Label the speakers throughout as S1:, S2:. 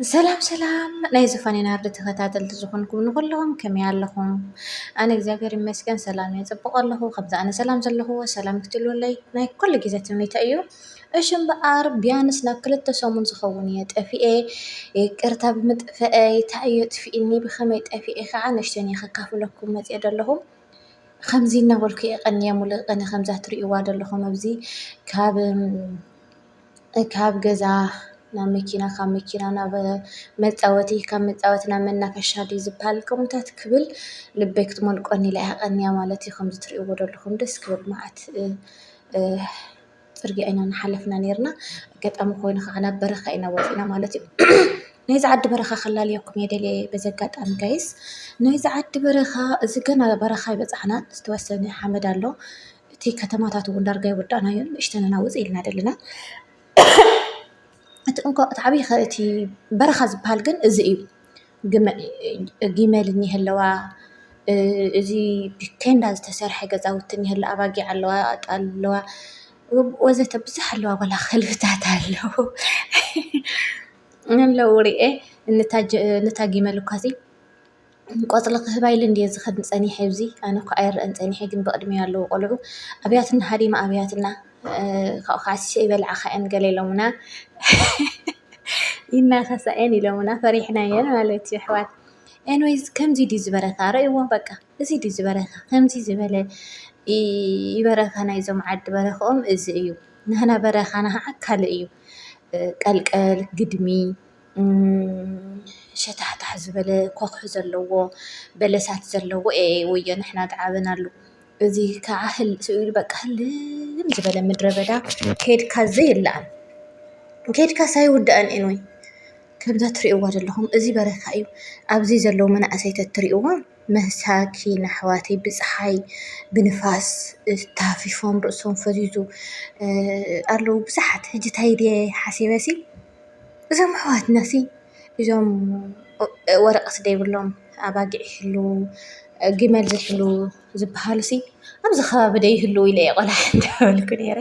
S1: ሰላም ሰላም ናይ ዝፋኔ ናርዲ ተኸታተልቲ ዝኾንኩም ንኹለኹም ከመይ ኣለኹም? ኣነ እግዚኣብሔር ይመስገን ሰላም እየ ጽቡቕ ኣለኹ ከምዚ ኣነ ሰላም ዘለኹዎ ሰላም ክትህልወለይ ናይ ኩሉ ግዜ ትምኒተይ እዩ። እሺ እምበኣር ቢያንስ ናብ ክልተ ሰሙን ዝኸውን እየ ጠፊኤ ይቅርታ ብምጥፍአይ እንታይ እዩ ኣጥፊእኒ ብኸመይ ጠፊኤ ከዓ ንእሽተይ እየ ከካፍለኩም መጺኤ ዘለኹ። ኸምዚ እናበልኩ እየ ቀንየ ሙሉእ ቐንየ ኸምዛ ትሪእዋ ዘለኹም ኣብዚ ካብ ካብ ገዛ ናብ መኪና ካብ መኪና ናብ መጻወቲ ካብ መጻወቲ ናብ መናፈሻ ድዩ ዝብሃል ከምኡታት ክብል ልበይ ክትሞልቆኒ ኢላ እያ ቀንያ ማለት እዩ ከምዚ ትሪእዎ ዘለኹም ደስ ክብል መዓት ፅርግያ ኢና እናሓለፍና ኔርና ኣጋጣሚ ኮይኑ ኸዓ ናብ በረኻ ኢና ወፂእና ማለት እዩ ናይዚ ዓዲ በረኻ ከላልየኩም እየ ደልየ በዚ ኣጋጣሚ ጋይስ ናይዚ ዓዲ በረኻ እዚ ገና በረኻ ኣይበፃሕናን ዝተወሰነ ሓመድ ኣሎ እቲ ከተማታት እውን ዳርጋ ይወዳእናዮ ንእሽተን ኢና ውፅእ ኢልና ዘለና። እቲ እንኮ እቲ ዓብዪ እቲ በረኻ ዝበሃል ግን እዚ እዩ። ግመል እኒሀ ኣለዋ፣ እዚ ብቴንዳ ዝተሰርሐ ገዛውቲ እኒሀ ኣሎ፣ ኣባጊዕ ኣለዋ፣ ኣጣል ኣለዋ ወዘተ ብዙሕ ኣለዋ ዋላ ከልብታት ኣለዉ። ኣለዉ ሪኤ ነታ ግመል እኳሲ። ቆጽሊ ክህባ ኢለ እንድየ ዝኸድ ጸኒሐ ኣብዚ ኣነ እኳ ኣይረኣን ጸኒሐ ግን ብቕድሚያ ኣለዉ ቆልዑ ኣብያትና ሃዲማ ኣብያትና ካብኡ ከዓ ስሸ ይበልዓኻ እየን ገለ ኢሎምና ይናኸሳ እየን ኢሎምና ፈሪሕና እየን ማለት እዩ ኣሕዋት ኤንዌይስ ከምዚ ድዩ ዝበረካ ረእይዎ በቃ እዚ ድዩ ዝበረካ ከምዚ ዝበለ ይበረካ ናይዞም ዓዲ በረክኦም እዚ እዩ ንህና በረኻና ከዓ ካልእ እዩ ቀልቀል ግድሚ ሸታሕታሕ ዝበለ ኮኽሒ ዘለዎ በለሳት ዘለዎ እኤኤ ወዮ ንሕና ገዓብና ኣሉ እዚ ከዓ ህል ስኢሉ በቃ ህልም ዝበለ ምድረ በዳ ከድካ ዘይለኣን ከድካ ሳይውዳእን ኤንወይ ከምዛ ትርእይዋ ዘለኹም እዚ በረካ እዩ ኣብዚ ዘለዉ መናእሰይ ተትርእይዎም መሳኪን ኣሕዋተይ ብጸሓይ ብንፋስ ታፊፎም ርእሶም ፈዚዙ ኣለዉ ብዙሓት ሕጂ ታይ ድየ ሓሲበሲ እዞም ኣሕዋትና ሲ እዞም ወረቀት ዘይብሎም ኣባጊዕ ይሕልዉ ግመል ዝሕልዉ ዝበሃሉ ሲ ኣብዚ ከባቢ ዶ ይህልዉ ኢለ እየ ቆልዓ እንዳበልኩ ነይረ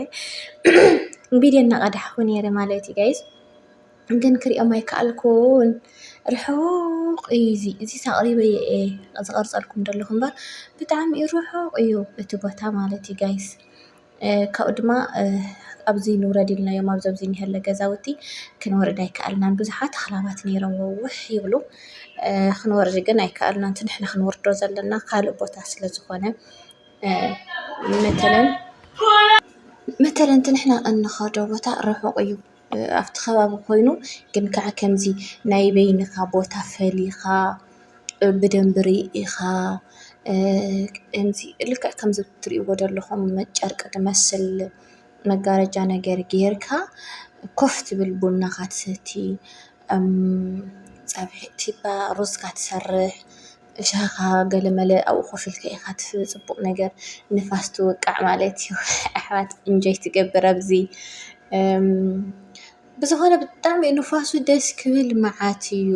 S1: ቪድዮ እናቀዳሕኩ ነይረ ማለት እዩ ጋይስ ግን ክሪኦም ኣይከኣልኩን ርሑቅ እዩ እዚ እዚስ ኣቅሪበዮ እየ ዝቀርፀልኩም ዘለኩ እምበር ብጣዕሚ እዩ ርሑቅ እዩ እቲ ቦታ ማለት እዩ ጋይስ። ካብኡ ድማ ኣብዚ ንውረድ ኢልናዮም ኣብዚ ኣብዚ እኒሀለ ገዛውቲ ክንወርድ ኣይከኣልናን ብዙሓት ኣኽላባት ነይሮሞ ውሕ ይብሉ ክንወርድ ግን ኣይከኣልናን እቲ ንሕና ክንወርዶ ዘለና ካልእ ቦታ ስለ ዝኾነ መተለን መተለን እቲ ንሕና እንኸዶ ቦታ ርሑቕ እዩ። ኣብቲ ከባቢ ኮይኑ ግን ከዓ ከምዚ ናይ በይንኻ ቦታ ፈሊኻ ብደንቢ ርኢኻ ከምዚ ልክዕ ከምዚ ትሪእዎ ዘለኹም ጨርቂ ዝመስል መጋረጃ ነገር ጌርካ ኮፍ ትብል ቡናኻ ትሰቲ፣ ፀብሒ ሩዝካ ትሰርሕ። እሻኻ ገለመለ ኣብኡ ኮፍ ኢልካ ኢኻ ትፍሪ ጽቡቕ ነገር ንፋስ ትውቃዕ ማለት እዩ ኣሕዋት እንጆይ ትገብር ኣብዚ ብዝኾነ ብጣዕሚ እዩ ንፋሱ ደስ ክብል መዓት እዩ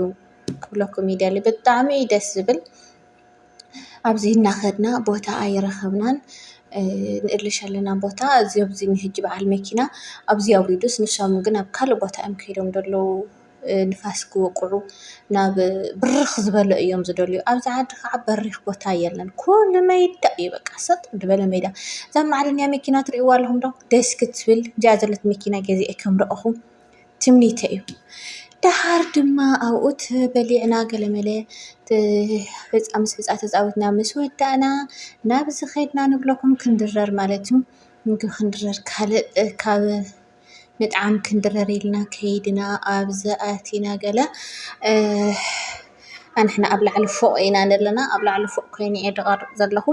S1: ክብለኩም ይደሊ ብጣዕሚ እዩ ደስ ዝብል ኣብዚ እናኸድና ቦታ ኣይረኸብናን ንእልሽ ኣለና ቦታ እዚ ኣብዚ ንህጂ በዓል መኪና ኣብዚ ኣውሪዱስ ንሶም ግን ኣብ ካልእ ቦታ እዮም ከይዶም ዘለዉ። ንፋስ ክወቅዑ ናብ ብርኽ ዝበለ እዮም ዝደልዩ። ኣብዚ ዓዲ ከዓ በሪኽ ቦታ የለን ኩሉ ሜዳ እዩ በቃ ሰጥ ዝበለ ሜዳ። እዛ መዓደንያ መኪና ትሪእዋ ኣለኹም ዶ ደስ ክትብል እዚኣ ዘለትኒ መኪና ገዚኣ ከም ረኣኹ ትምኒተይ እዩ። ደሓር ድማ ኣብኡ በሊዕና ገለመለ ሕፃ ምስ ሕፃ ተፃዊትና ምስ ወዳእና ናብዚ ከድና ንብለኩም ክንድረር ማለት እዩ። ምግቢ ክንድረር ካልእ ካብ ምጥዓም ክንድረር ኢልና ከይድና ኣብዚ ኣቲና ገለ ኣንሕና ኣብ ላዕሊ ፎቕ ኢና ዘለና ኣብ ላዕሊ ፎቕ ኮይነ እየ ድቐርፅ ዘለኹ።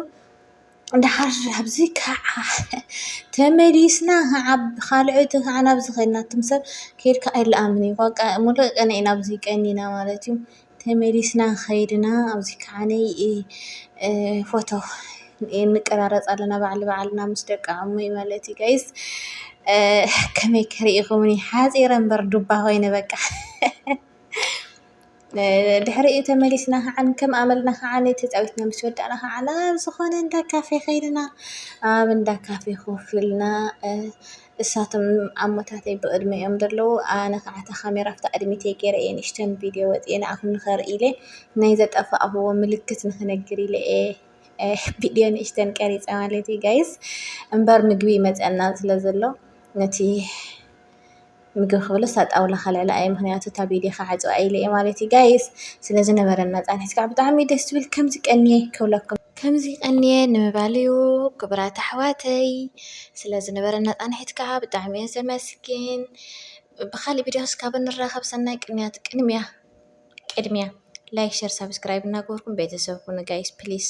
S1: ድሓር ኣብዚ ከዓ ተመሊስና ከዓ ብኻልእ እቲ ከዓ ናብዚ ኸይድና ትም ሰብ ከይድካ ኣይለኣምን እዩ። በቃ ሙሉእ ቀን ኢና ኣብዚ ቀኒና ማለት እዩ። ተመሊስና ከይድና ኣብዚ ከዓኒ ፎቶ ንቀራረፅ ኣለና ባዕል ንባዕልና ምስ ደቂ ዓሙይ ማለት እዩ ጋይስ ከመይ ክሪኢኹምኒ ሓፂረ እምበር ዱባ ኮይነ በቃ። ድሕሪኡ ተመሊስና ከዓኒ ከም ኣመልና ከዓኒ ተፃዊትና ምስ ወዳእና ከዓኒ ኣብ ዝኾነ እንዳ ካፌ ከይድና ኣብ እንዳ ካፌ ኮፍ ኢልና እሳቶም ኣሞታተይ ብቕድመይ እዮም ዘለዉ። ኣነ ኸዓ እታ ካሜራ ኣብቲ ቕድሚተይ ገይረ እየ ንእሽተን ቪድዮ ወጺኤ ንኣኹም ንኸርኢ ኢለ ናይ ዘጠፋእኹዎ ምልክት ንኽነግር ኢለ እየ ቪድዮ ንእሽተን ቀሪጸ ማለት እዩ ጋይስ። እምበር ምግቢ ይመጸና ስለ ዘሎ ነቲ ምግቢ ክብልስ እታ ጣውላ ከልዕላ እየ ምክንያቱ እታ ቪድዮ ክዓጽዋ ኢለ እየ ማለት እዩ ጋይስ ስለዚ ነበረና ጻንሒት ከዓ ብጣዕሚ ደስ ዝብል ከምዚ ቀንየ ክብለኩም ከምዚ ቀንየ ንምባል እዩ ክቡራት ኣሕዋተይ ስለ ዝነበረና ጻንሒት ከኣ ብጣዕሚ እየ ዘመስግን። ብኻልእ ቪድዮ ክስካብ ንራኸብ ሰናይ ቅንያት ቅንምያ ቅድምያ ላይክ ሸር ሳብስክራይብ እናገበርኩም ቤተሰብ ኩኑ ጋይስ ፕሊስ።